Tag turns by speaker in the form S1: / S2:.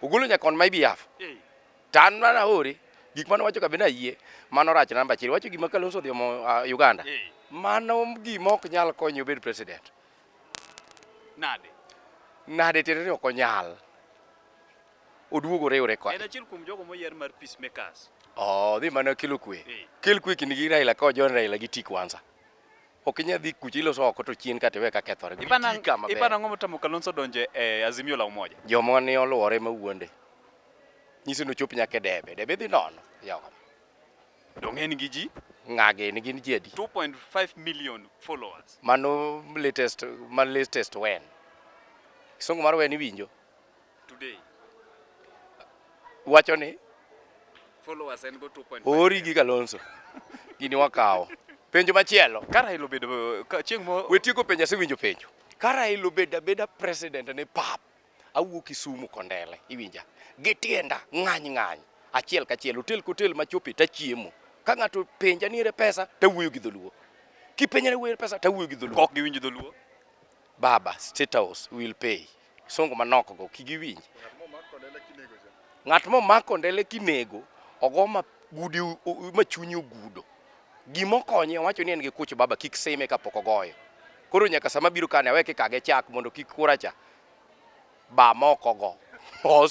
S1: Ogolo nyaka on my behalf. To an mana aore gik mane wacho ka be nayie mano rach namba achiel. Wacho gima Kalonzo odhi omo ah, Uganda. Mano gima ok nyal konye obed president. Nade? Nade tiende ni ok onyal. Oduogo oriwre En kode. achiel kuom jogo moyier mar peacemakers. Oh, dhi mana kelo kwe. Eh. Kel kwe kindgi gi Raila ka ojon Raila gi tik wansa. ok inyal dhi kucha iloso oko to chien ka tiwe ka kethore. Ipana Gitii kama ber. ipana ngomo tamo Kalonzo donje e Azimio la Umoja. Joma ni oluwore ma wuonde. Nyisi ni ochop nyaka e debe. Debe dhi nono. Yawa. Donge en gi ji Ng'age ni gin ji adi? 2.5 million followers. Mano latest, ma latest wen. Kisungu mar wen iwinjo? today wacho ni followers en go 2.5 ori gi Kalonzo gini wakawo penjo machielo ka Raila obedo ka chieng' mo we tieko penjo asewinjo penjo ka Raila obedo abeda president ne pap awuok Kisumu Kondele iwinja gi tienda ng'any ng'any achiel kachiel hotel kotel machopi tachiemo ka ng'ato penja nire pesa tawuoyo gi dholuo kipenja ni wuoyo pesa tawuoyo gi dholuo ok giwinj dholuo Baba, State House will pay. Songo manok go kigiwinj. Ng'at momako ndele kinego ogo ma gudi ma chunyi ogudo. Gima okonye owacho ni en gi kuch baba kik seme kapok ogoyo. Koro nyaka sama biro kane aweke kage chak mondo kik kuracha ba moko go. Os